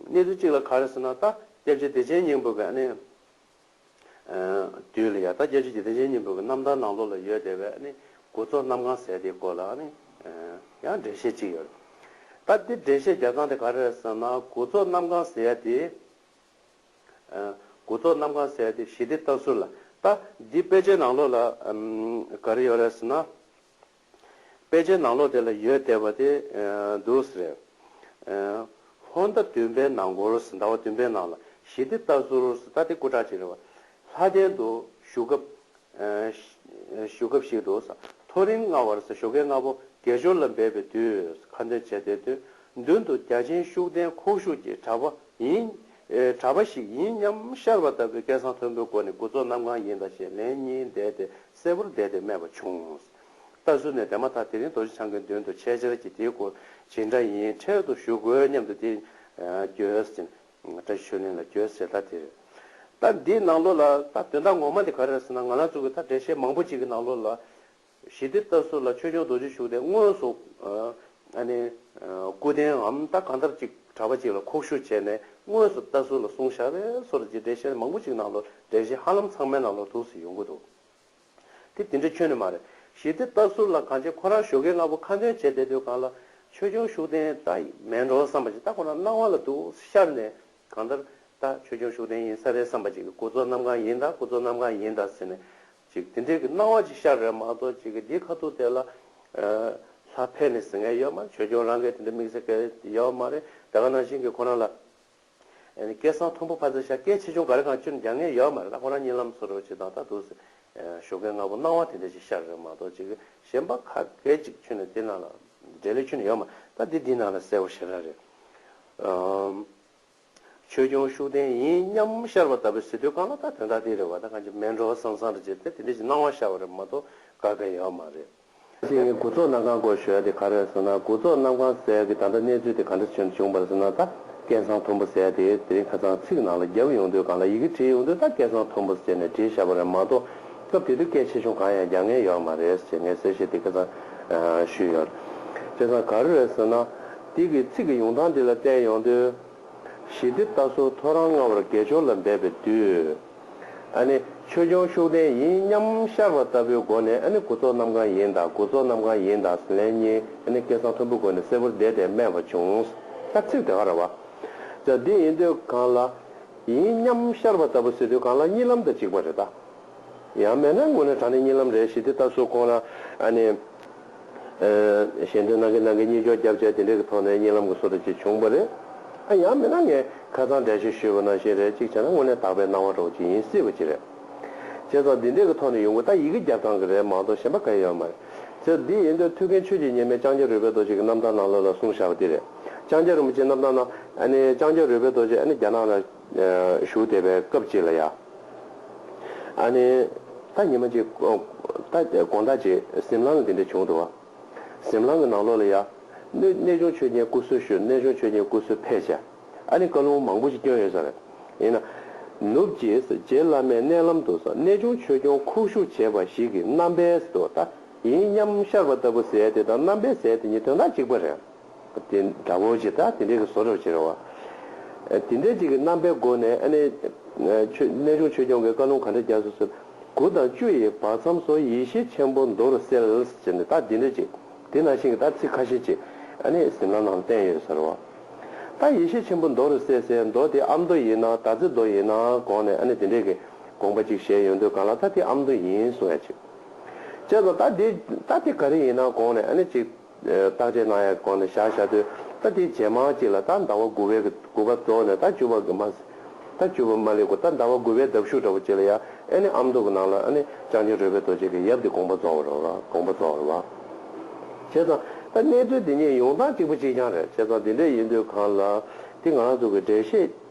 གནས་ཚུལ་གཅིག་ལ་ག་རེ་ཟེར་ན་ད་སྐྱབས་རྗེ་བདེ་ཆེན་སྙིང་པོ་གི་ནི། དུས་ལ་ཡ་ད་སྐྱབས་རྗེ་བདེ་ཆེན་སྙིང་པོ་གི་རྣམ་ཐར་ནང་ལོགས་ལ་ཡོད་བསྡད་པའི་ནི་འགོ་གཙོ་རྣམ་གང་ཟེར་དེའི་སྐོར་ལ་ནི་ཡང་འགྲེལ་བཤད་གཅིག་ཡོད། ད་འདི་འགྲེལ་བཤད་རྒྱག་སྟངས་དེ་ག་རེ་ཟེར་ན་འགོ་གཙོ་རྣམ་གང་ཟེར་དེ། འགོ་གཙོ་རྣམ་གང་ཟེར་དེ་ཞི་བདེ་ལྟ་ཚུལ་ལ་ད་འདི་དཔེ་ཆའི་ནང་ལོགས་ལ་ག་རེ་ཡོད་རེད་ཟེར་ན། དཔེ་ཆའི་ནང་ལོགས་དེ་ལ་ཡོད་བསྡད་པ་དེ་འདུག་ཟེར། ཧོར་ཟླ་བདུན་པའི་ནང་གོ་རུ་སི་ཟླ་བ་བདུན་པའི་ནང་ལ་ཞི་བདེ་ལྟ་ཟུར་སི་ཏཱ་ཏི་སྐུ་དྲག་ཅིག་རེད་བ། ལྷ་ལྡན་དུ་བཞུགས་སྐབས། བཞུགས་སྐབས་ཤིག་འདུག་ཟ་ཐོ་རིང་ལྔ་བར་སི་ཞོ་ཀེ་ལྔ་པོ་དགེ་སྦྱོར་ལ་འབད་པའི་དུས་ཁ་འདོན་བྱས་དེ་དོན་མདུན་དུ་རྒྱ་ཆེན་ཤུགས་ལྡན་ཁོག་ཞུགས་ཀྱི་གྲྭ་པ་ཡིན། གྲྭ་པ་ཞིག་ཡིན་སྙམ་ཤར་བ་ལྟ་བུའི་སྐད་གསང་མཐོན་པོའི་སྒོ་ནས་དགུ་ཚོགས་གནམ་གང་ཡིན་ད་ཞེས་ལན་གཉིས་བཟླས་ཏེ་གསལ་པོར་བསྡད་དེ་སྨྲས་པ་བྱུང། ལྟ་ཚུལ་ནས་བལྟས་མ་ཐག་དེ་རིང་རྡོ་རྗེ་འཆང་གི་མདུན་དུ་ཆེད་བཅར་གྱིས་དེའི་སྐོར་ཇི་འདྲ་ཡིན་འཕྲལ་དུ་ཞུ་དགོས་སྙམ་དུ་དེ། གྱོས། བཀྲ་ཤིས་ཆོས་གླིང་ལ་གྱོས་ཞེས་བརྡ་དེར། ད་འདིའི་ནང་ལོགས་ལ་ད་དོན་དག་ངོ་མ་དེ་ག་རེ་རེད་ཟེར་ན་ང་ལ་གཙུག་གི་ད་འགྲེལ་བཤད་མང་པོ་ཅིག་གི་ནང་ལོགས་ལ། ཞི་བདེ་ལྟ་ཚུལ་ལ་ཆོས་སྐྱོང་རྡོ་རྗེ་བཞུགས་ཏེ་དངོས་སུ། ཨ་ནི། སྐུ་རྟེནའམ་ད་གང་ལྟར་ཅིག་གྲྭ་པ་ཅིག་ལ་ཁོག་ཞུགས་བྱས་ནས་དངོས་སུ་ལྟ་ཚུལ་ལ་གསུང་བཞག་པས་སོར་རྗེས་འགྲེལ་བཤད་མང་པོ་ཅིག་ནང་ལོགས་འགྲེལ་བཤད་ཧ་ལམ་ཚང་མའི་ནང་ལོགས་དུག་སེལ་ཡོང་གི་འདུག་དེ་དེ་འདྲའི་ཁྱོད་ནི་མ་རེད། ཞེས་དེ་ལྟར་ཟུར་ལ་གང་བྱེད་ཁོ་རང་ཞོགས་ཀའི་སྔ་པོ་ཁ་འདོན་བྱས་བསྡད་དུས་གང་ལ་ཆོས་སྐྱོང་ཤུགས་ལྡན་ལྟ་ཡི་མེད་འགྲོ་བསམ་པ་ཅིག་ལྟ་ཁོ་ན་སྣང་བ་ལ་འདུག་ཤར་ནས་གང་ལྟར་ད་ཆོས་སྐྱོང་ཤུགས་ལྡན་ཡིན་ས་རེད་བསམ་པ་ཅིག་གུ་ཚོགས་རྣམས་གང་ཡིན་ད་གུ་ཚོགས་རྣམས་གང་ཡིན་ད་ཟེར་ནས་ཅིག་དེ་འདྲའི་གི་སྣང་བ་ཅིག་ཤར་རེད་མ་གཏོགས་ཅིག་གི་འདིའི་ཁ་ཐུག་དེ་ལ་ལྷ་ཕལ་ནི་ཟེར་མཁན་ཡོད་མ་རེད་ཆོས་སྐྱོང་རང་གིས་དེ་འདྲའི་དམིགས་བསལ་སྐད་ཡོད་མ་རེད་དེ་ག་ནང་བཞིན་གི་ཁོ་རང་ལ། སྐད་གསང་མཐོན་པོ་ཕར་ཚད་ཤ་སྐད་ཆེ་ཆུང་ག་རེ་གང་སྤྱིར་འགྱངས་ངེས་ཡོད་མ་རེད་ད་ཁོ་རང་གཉིས་ལམ་སོ་རེ་བ་བྱེད་དང་ད་དུ་ཞོ་སྐད་སྔ་པོ་སྣང་བ་དེ་འདྲ་ཞིག་ཤར་རེད་མ་གཏོགས་ཅིག་གཞན་པ་ཁ་སྐད་ཅིག་ཆུ་ནས་དེ་ནང་ལ་འདྲེ་ལས་ཆུ་ནས་ཡོད་མ་ད་འདི་འདི་ནང་ལ་གསལ་བོ་ཤེས་ར་རེད། ཆོས་སྐྱོང་ཤུགས་ལྡན་ཡིན་སྙམ་ཤར་བ་ལྟ་བུའི་ཟེར་དུས་གང་ལ་ད་དོན་དག་འདི་རེད་བ་ད་གང་ཅིག་མལ་འགྲོ་བ་སང་སང་རེ་བྱེད་དེ་དེ་འདྲ་ཞིག་སྣང་བ་ཤར་བ་རེད་མ་གཏོགས་ག་གེ་ཡོད་མ་རེད། ཞིག་ནི་དགུ་ཚོགས་གནམ་གང་སྐོར་ཞོལ་དེ་ག་རེད་ཟེར་ན་དགུ་ཚོགས་གནམ་གང་གསལ་གི་ད་ལྟ་གནས་ཚུལ་དེ་ག་འདྲ་ཆེ་འདྲ་བྱུང་བར་ཟེར་ན་ད་སྐད་གསང་མཐོན་པོ་གསལ་ཏེ་དེ་རིང་ཁ་ཚང་ཚིག་ནང་ལ་རྒྱབ་ཡོང་དུས་གང་ལ་ཡི་གེ་བྲིས་ཡོང་དུས་ད་སྐད་གསང་མཐོན་པོ་ཟེར་ནས་བྲིས་བཞག་པ་རེད་མ་གཏོགས་སྐབས་དེ་དུས་སྐད་ཆེ་ཆུང་གང་ཡང་རྒྱག་ངེས་ཡོད་མ་རེད་ཅེས་ངས་གསལ་བཤད་དེ་སྐད་གསང་ཞུས་ཡོད། སྐད་གསང་ག་རེ་རེད་ཟེར་ན། དེ་གི་ཚིག་གི་ཡོང་སྟངས་འདི་ལ་བལྟས་ཡོང་དུས། ཞི་བདེ་ལྟ་སོགས་ཐོ་རངས་ལྔ་བར་དགེ་སྦྱོར་ལ་འབད་པའི་དུས། ཆོས་སྐྱོང་ཤུགས་ལྡན་ཡིན་སྙམ་ཤར་བ་ལྟ་བུའི་སྒོ་ནས་གུ་ཚོགས་རྣམས་གང་ཡིན་དང་གུ་ཚོགས་རྣམས་གང་ཡིན་དང་ལན་གཉིས་སྐད་གསང་མཐོན་པོའི་སྒོ་ནས་གསལ་བོར་བཟླས་ཏེ་སྨྲས་པ་བྱུང། ཤར་ཚིག་དེ་ག་ར་བ། ཅག་འདི་ཡིན་དུས་གང་ལ། ཡིན་སྙམ་ཤར་བ་ལྟ་བུ་སྲིད་དུས་གང་ལ་གཉིས་ལམ་དང་གཅིག་པ་རེ་ད། ཡང་མེད་ན་དངོས་གནས་དྲང་ནས་གཉིས་ལམ་རེད་ཞེས་དེ་ལྟར་སོགས་ཁོང་ར། གཞན་དོན་ནང་གི་ནང་གི་གཉིས་འཇོག་རྒྱབ་བྱས་དེ་འདྲས་ཀྱི་ཐོག་ནས་གཉིད་ལམ་གྱི་སོ་ཐར་ཅིག་བྱུང་བ་རེད། ཡང་མིན་ན་ངས་ཁ་ཚང་འདྲ་ཞིག་ཞུས་པ་ནང་བཞིན་རེད་ཅིག་བྱས་ན་དངོས་གནས་དག་པའི་སྣང་བ་གྲོགས་ཅིག་ཡིན་སྲིད་པ་ཅིག་རེད། བྱས་ཙང་འདི་འདྲས་ཀྱི་ཐོག་ནས་ཡོང་དགོས་ད་ཡི་གེ་རྒྱབ་སྟངས་ཀྱི་རེད་མ་གཏོགས་གཞན་པ་ག་ཡི་ཡོད་མ་རེད། ཚེ་འདི་ཡིན་དུས་ཐུགས་མཁྱེན་ཆོས་ཀྱི་གཉེར་མའི་ལྕང་སྐྱ་རུས་པའི་རྡོ་རྗེ་གྱི་རྣམ་ཐར་ནང་བློ་ལ་བཟུང་བཞག་པ་དེ་རེད། ལྕང་སྐྱ་རིན་པོ་ཆེའི་རྣམ་ཐར་ནང། ནི་ལྕང་སྐྱ་རུས་པའི་རྡོ་རྗེ་ནི་རྒྱ་ནག་ལ། བཞུགས་བསྡད་པའི་སྐབས་གཅིག་ལ་ཡང། ཨ་ནེ། ད་ཉི་མ་གཅིག། ད་དགོང་ཟླ་གཅིག་གཟིམ་ལང་ལ་འདི་འདྲ་བྱུང་འདུག། གཟིམ་ལང་གི་ནང་ལོགས་ལ་ཡ། གནས་ཆུང་ཆོས་རྒྱན་སྐུ་གསོལ་ཞུ་གནས་ཆུང་ཆོས་རྒྱན་སྐུ་གསོལ་ཕེབས་བྱས། ཨ་ནེ་བཀའ་ལུང་མང་པོ་ཞིག་བསྐྱོན་ཡོད་ས་རེད། ཡིན་ན། ནུབ་ཀྱིས་རྗེ་བླ་མའི་མནལ་ལམ་དུ་གནས་ཆུང་ཆོས་སྐྱོང་ཁུག་བཞུགས་བྱས་པ་ཞིག་གི་རྣམ་པས་དུ་ད་ཡིན་སྙམ་ཤར་བ་ལྟ་བུ་ཟེར་དེ་དང་རྣམ་པས་ཟེར་དེ་གཉིས་དོན་དག་གཅིག་པ་རེད། དེ་འདྲ་བོ་ཞེས་དང་དེ་འདྲའི་གི་བཟོ་རོ་ཞེས་རོ། དེ་འདྲ་ཅིག་གི་རྣམ་པའི་སྒོ་ནས་ཨ་ནི། གནས་ཆུང་ཆོས་སྐྱོང་གི་བཀའ་ལུང་ག་འདྲ་རྒྱག་སོ་ཟེར། དགུ་དང་བཅུ་ཡི་བར་མཚམས་སུ་ཡེ་ཤེས་ཆེན་པོ་མདོར་གསལ་ཞེས་ནི་དང་དེ་འདྲ་ཅིག་དེ་ནང་བཞིན་གྱི་དང་ཚིག་ཁ་ཤས་ཅིག་ཨ་ནི་ཟིན་ལ་ནང་བསྟན་ཡོད་ཟེར་རོ། དང་ཡེ་ཤེས་ཆེན་པོ་མདོར་གསལ་སའི་མདོ་དེ་ཨ་མདོ་ཡིན་ནང་དང་ཚིག་མདོ་ཡིན་ནང་དགོངས་ནས་ཨ་ནི་དེ་འདྲའི་གི་དགོངས་པ་ཅིག་བཞེད་ཡོད་འདོད་གང་ལ་དང་དེ་ཨ་མདོ་ཡིན་གསུང་ཡ་ཅིག། ཅེས་དང་དང་དེ་དང་དེ་ག་རེ་ཡིན་ནང་དགོངས་ནས་ཨ་ནི་ཅིག། རྟགས་ཅན་སྣང་ཡང་གོང་ནས་བཞག་བཞག་དུས་རྟགས་དེའི་རྗེས་མ་གཅིག་ལ་རྟགས་འདའ་བ་དགུ་བས་དགུ་པ་རྫོགས་ནས་རྟགས་བཅུ་བ་དགུ་མ་རྟགས་བཅུ་བ་མ་ལེགས་གོ་རྟགས་འདའ་བ་དགུ་བས་འདབ་གཞུག་འདྲ་བོ་གཅིག་ལ་ཡང་ཨེ་ནི་ཨམ་མདོ་གི་ནང་ལ་ཨེ་ནི་སྤྱང་ཆེན་རོལ་པའི་རྡོ་རྗེ་གི་ཡབ་འདི་དགོངས་པ་རྫོགས་བར་བ་དགོངས་པ་རྫོགས་བར་བ། བྱས་ཙང་ད་གནས་ཚུལ་འདི་ཉིད་ཡོངས་གཏམ་གཅིག་པུ་གཅིག་རྐྱང་རེད་བྱས་ཙང་འདི་འདྲ་ཡིན་དུས་གང་ལ་དེ་ང་རང་ཚོ་གི་འགྲེལ་བཤད་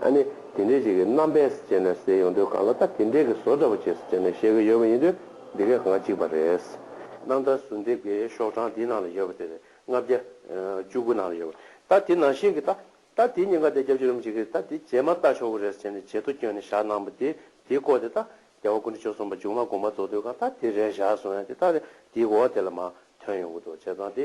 ཨ་ནི་དེ་འདྲའི་ཞིག་གི་རྣམ་པས་སུ་བྱས་ནས་ཟེར་ཡོང་དུས་གང་ལ་ད་དེ་འདྲའི་གི་བཟོ་འདྲ་པོ་བྱས་སུ་བྱས་ནས་བཤད་གི་ཡོད་པ་ཡིན་དུས་འདི་གའི་གང་གཅིག་པ་རེད། གནམ་ཐང་ཟུར་འདི་གའི་ཤོག་གྲངས་འདིའི་ནང་ལ་ཡོད་པ་དེ་རེད་ལྔ་བརྒྱ། བཅུ་དགུ་ནང་ལ་ཡོད་པ་རེད་ད་དེ་ནང་བཞིན་གི་ད་ད་དེའི་ཉེན་ཁ་དེ་རྒྱབ་ཕྱི་རུམ་བྱེད་གི་ད་དེ་རྗེས་མར་ལྟ་ཆོག་གི་རེད་ཟེར་ནས་ཇེ་ཐོ་བསྐྱོན་ནས་བཞག་གནང་བ་དེ་དེའི་སྐོར་དེ་ད་རྒྱལ་བ་ཀུན་གྲོལ་ཆོས་གསུངས་པ་མཇུག་མ་དགོངས་པ་རྫོགས་དུས་གང་ད་དེ་རེད་བཞག་སོང་ཡང་དེ་ད་རེད་དེའི་གོ་བ་དེ་ལ་མ་ཐོན་ཡོང་གི་འདུག་བྱས་ཙང་དེ་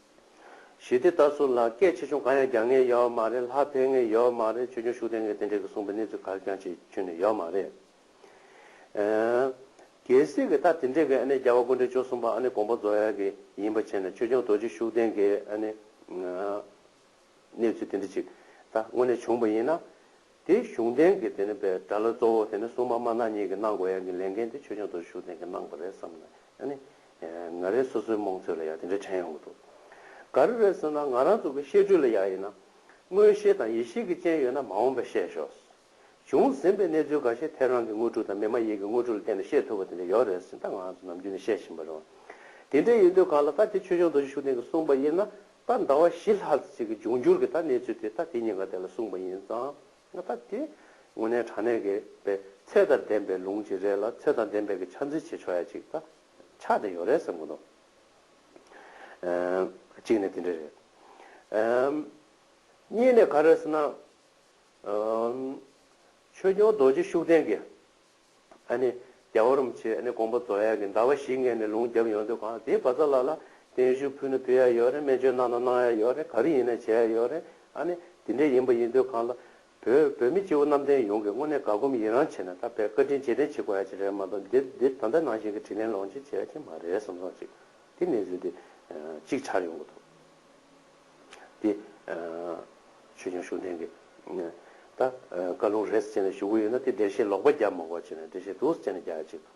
ཞི་བདེ་ལྟར་སྲོལ་ལ་སྐད་ཆེ་ཆུང་གང་ཡང་རྒྱག་ངེས་ཡོད་མ་རེད་ལྷ་འཕེན་ངེས་ཡོད་མ་རེད་ཆོས་འབྱུང་ཤུགས་ལྡན་ངེས་དེ་འདྲའི་གི་གསུངས་པའི་གནས་ཚུལ་གར་ཀྱང་བྱེད་ཁྱོན་ནས་ཡོད་མ་རེད། གལ་སྲིད་གི་ད་དེ་འདྲའི་གི་ཨ་ནི་རྒྱལ་བ་ཀུན་འདྲེ་ཅོ་གསུངས་པ་ཨ་ནི་དགོངས་པ་རྫོགས་ཡ་གི་ཡིན་པ་བྱས་ནས་ཆོས་འབྱུང་རྡོ་རྗེ་ཤུགས་ལྡན་གི་ཨ་ནི། གནས་ཚུལ་དེ་འདྲ་ཅིག་ད་དངོས་གནས་བྱུང་བ་ཡིན་ན། དེའི་གཞུང་འབྲེལ་གྱི་དེ་ནི་པའི་དགྲ་བླ་གཙོ་བོ་དེ་ནི་སྲུང་མ་དམར་ནག་གཉིས་ཀྱིས་གནང་དགོས་ཡ་གི་ལས་འགན་དེ་ཆོས་སྐྱོང་དོར་ཞུགས་ལྡན་གྱིས་གནང་བ་རེད་བསམ་ན་ཡང་ནི། ང་རེ་སོ་སོའི་རྨོངས་ཚོད་ལ་ཡང་དེ་འདྲ་དྲན་ཡོང་གི་འདུག་ག་རེ་རེད་ཟེར་ན་ང་རང་ཚོ་གི་བཤད་སྒྲུས་ལ་ཡང་ཡིན་ན། མངོན་ཤེས་དང་ཡིད་ཤེས་ཀྱི་སྤྱན་ཡོད་ན་མ་འོངས་པ་བཤད་ཞོག། བྱུང་ཟིན་པའི་གནས་ཚུལ་འགའ་ཤས་ཐད་རང་གི་དངོས་ཕྲུག་དང་མི་མ་ཡིན་གྱི་དངོས་ཕྲུག་ལ་བལྟས་ནས་བཤད་ཐུབ་པ་དེ་འདྲ་ཡོད་རེད་ཟེར་ད་ང་རང་ཚོ་ནམ་རྒྱུན་ནས་བཤད་བཞིན་པ་རེད། དེ་འདྲ་ཡིན་དུས་གང་ལ་ད་དེ་ཆོས་སྐྱོང་དོར་ཞུགས་ལྡན་གྱིས་གསུངས་པ་ཡིན་ན། ད་ཟླ་བ་བཞི་ལྷག་ཅིག་གི་འབྱུང་འགྱུར་གྱི་ད་གནས་ཚུལ་དེ་ད་དེ་གཉིས་ཀ་དེ་ལ་གསུངས་པ་ཡིན་ཙང་ང་ད་དེ་དངོས་གནས་དྲང་གནས་ཀྱི་པའི་ཚད་དང་ལྡན་པའི་ལུང་ཅིག་རེད་ལ་ཚད་དང་ལྡན་པའི་གི་ཆ་འཛིན་བྱེད་ཆོག་ཡ་ཅིག་ད་ཆ་དེ་ཡོད་རེད་བསམ་གྱི་འདུག་གཅིག་ནས་དེ་འདྲ་རེད། གཉིས་ནས་ག་རེ་ཟེར་ན། ཆོས་སྐྱོང་རྡོ་རྗེ་ཤུགས་ལྡན་གྱི་རྒྱལ་བ་རིན་པོ་ཆེས་དགོངས་པ་རྫོགས་ཡས་ཀྱི་ཟླ་བ་བཞི་ངས་ནས་ལུང་བརྒྱབ་ཡོང་དུས་གང་དེའི་བ་ཚྭ་ལ་ལ་བརྟན་བཞུགས་ཕུལ་ན་ཕུལ་ཡ་ཡོད་རེད་སྨན་བཅོས་གནང་ན་གནང་ཡ་ཡོད་རེད་ག་རེ་ཡིན་ན་བྱས་ཡ་ཡོད་རེད། དེ་འདྲས་ཡིན་པ་ཡིན་དུས་གང་ལ། བོད་བོད་མི་སྤྱི་བོ་གནམ་བསྟན་ཡོངས་ཀྱི་དངོས་གནས་དགའ་སྒོམ་ཡི་རང་བྱེད་ན་ད་བས་བཀའ་དྲིན་རྗེས་དྲན་བྱེད་དགོས་ཡ་ཅིག་རེད་མ་གཏོགས་འདིར་འདིར་ད་ལྟ་ནང་བཞིན་གྱི་དྲིན་ལན་ལོངས་སྤྱོད་བྱས་ཡ་ཅིག་མ་རེད་བསམ་སོང་ཅིག་དེ་གནས་ཚུལ་དེ་ཅིག་ཆར་ཡོང་གི་འདུག། དེ། ཆོས་སྐྱོང་ཤུགས་ལྡན་གྱིས། ད། བཀའ་ལུང་རེས་བྱས་ནས་བཞུགས་ཀྱི་ཡོད་ན་དེ་འགྲེལ་བཤད་ལོག་པ་རྒྱབ་མ་གོ་བྱས་ནས་འགྲེལ་བཤད་དུ་བྱས་ནས་རྒྱག་ཅིག་དང།